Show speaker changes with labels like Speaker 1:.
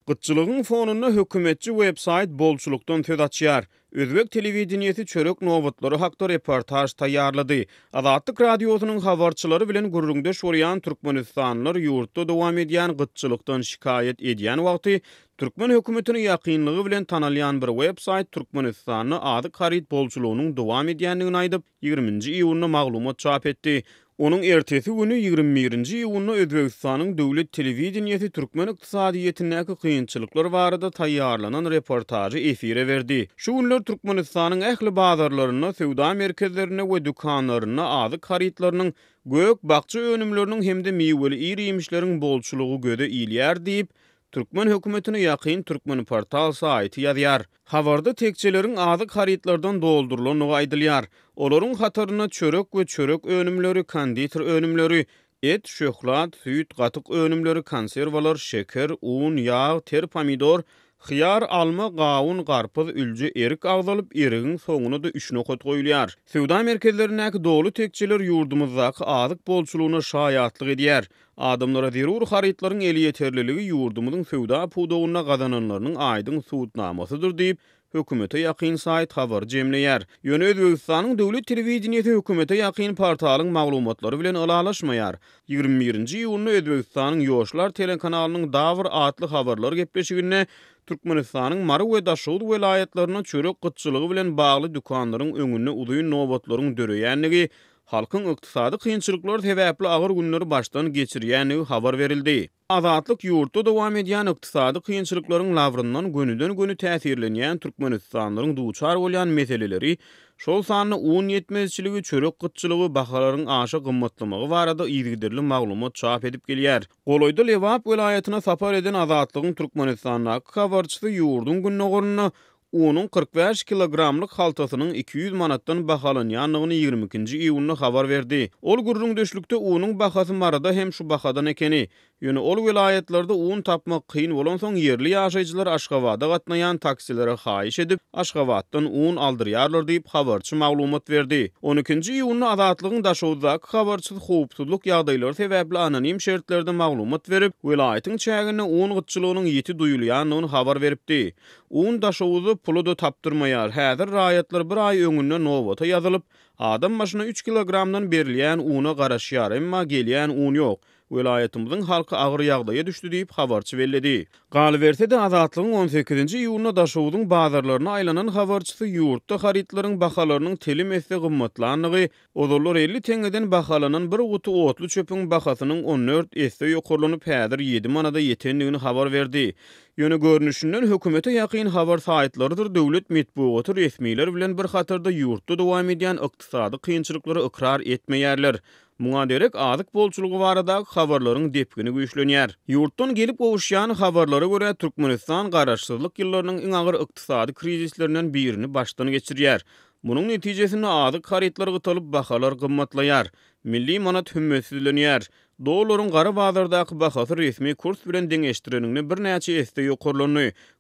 Speaker 1: Gytçylygyň fonunda hökümetçi websaýt bolçulykdan söz açýar. Özbek telewideniýesi çörek nobatlary hakda reportaž taýýarlady. Azatlyk Radiosynyň habarçylary bilen gürrüňdeş bolýan türkmenistanlylar ýurtda dowam edýän gytçylykdan şikaýat edýän wagty, türkmen hökümetine ýakynlygy bilen tanalýan bir websaýt Türkmenistanda azyk-haryt bolçulygynyň dowam edýändigini aýdyp, ýigriminji iýunda maglumat çap etdi. Onuň ertesi güni, ýigrimi birinji iýunda Özbegistanyň döwlet telewideniýesi türkmen ykdysadyýetindäki kynçylyklar barada taýýarlanan reportažy efire berdi. Şu günler Türkmenistanyň ähli bazarlarynda, söwda merkezlerinde we dükanlarynda azyk harytlarynyň, gök-bakja önümleriniň hem-de miweli ir-iýmişleriň bolçulygy göze ilýär diýip, türkmen hökümetine ýakyn Turkmenportal saýty ýazýar. Habarda tekjeleriň azyk harytlardan doldurylandygy aýdylýar. Olaryň hatarynda çörek we çörek önümleri, konditer önümleri, et, şöhlat, süýt, gatyk önümleri, konserwalar, şeker, un, ýag, ter pomidor, hyýar, alma, gawun, garpyz, ülje, erik agzalyp, erigiň soňuna-da üç nokat goýulýar. Söwda merkezlerindäki doly tekjeler ýurdumyzdaky azyk bolçulygyna şaýatlyk edýär. Adamlara zerur harytlaryň elýeterliligi ýurdumyzyň söwda pudagynda gazananlarynyň aýdyň subutnamasydyr diýip, hökümete ýakyn saýt habar jemleýär. Ýöne Özbegistanyň döwlet telewideniýesi hökümete ýakyn portalyň maglumatlary bilen ylalaşmaýar. Ýigrimi birinji iýunda Özbegistanyň Ýoşlar telekanalynyň Dawr atly habarlar gepleşiginde Türkmenistanyň Mary we Daşoguz welaýatlarynda çörek gytçylygy bilen bagly dükanlaryň öňünde uzyn nobatlaryň döreýändigi Halkyň ykdysady kynçylyklar sebäpli agyr günleri başdan geçirýändigi habar berildi. Azatlyk ýurtda dowam edýän ykdysady kynçylyklaryň labryndan gönüden-göni täsirlenýän türkmenistanlylaryň duçar bolýan meseleleri, şol sanda un ýetmezçiligi, çörek gytçylygy, bahalaryň aşa gymmatlamagy barada yzygiderli maglumat çap edip gelýär. Golaýda Lebap welaýatyna sapar eden Azatlygyň Türkmenistandaky habarçysy ýurduň gündogarynda Unuň kyrk bäş kilogramlyk haltasynyň iki ýüz manatdan bahalanýandygyny ýigrimi ikinji iýunda habar berdi. Ol gürrüňdeşlikde unuň bahasy Maryda hem şu bahadan ekeni, ýöne ol welaýatlarda un tapmak kyn bolansoň ýerli ýaşaýjylar Aşgabada gatnaýan taksilere haýyş edip, Aşgabatdan un aldyrýarlar diýip, habarçy maglumat berdi. On ikinji iýunda Azatlygyň Daşoguzdaky habarçysy howpsuzlyk ýagdaýlary sebäpli anonim şertlerde maglumat berip, welaýatyň çäginde un gytçylygynyň ýiti duýulýandygyny habar beripdi. Un Daşoguzy pula-da tapdyrmaýar. Häzir raýatlar bir aý öňünde nobata ýazylyp, adam başyna üç kilogramdan berilýän una garaşýar, emma gelýän un ýok. Welaýatymyzyň halky agyr ýagdaýa düşdi diýip, habarçy belledi. Galyberse-de, Azatlygyň on sekizinji iýunda Daşoguzyň bazarlaryna aýlanan habarçysy ýurtda harytlaryň bahalarynyň telim esse gymmatlandygy, Ozallar elli teňňeden bahalanan bir guty otly çöpüň bahasynyň on dört esse ýokarlanyp, häzir ýedi manada ýetendigini habar berdi. Ýöne görnüşinden hökümete ýakyn habar saýtlarydyr döwlet metbugaty resmiler bilen bir hatarda ýurtda dowam edýän ykdysady kynçylyklary ykrar etmeýärler. Muňa derek azyk bolçulygy baradaky habarlaryň depgini güýçlenýär. Ýurtdan gelip gowuşýan habarlara görä, Türkmenistan garaşsyzlyk ýyllarynyň iň agyr ykdysady krizislerinden birini başdan geçirýär. Munuň netijesinde azyk harytlary gytalyp, bahalar gymmatlaýar. Milli manat hümmetsizlenýär. Dollaryň gara bazardaky bahasy resmi kurs bilen deňeşdireniňde birnäçe esse ýokarlandy.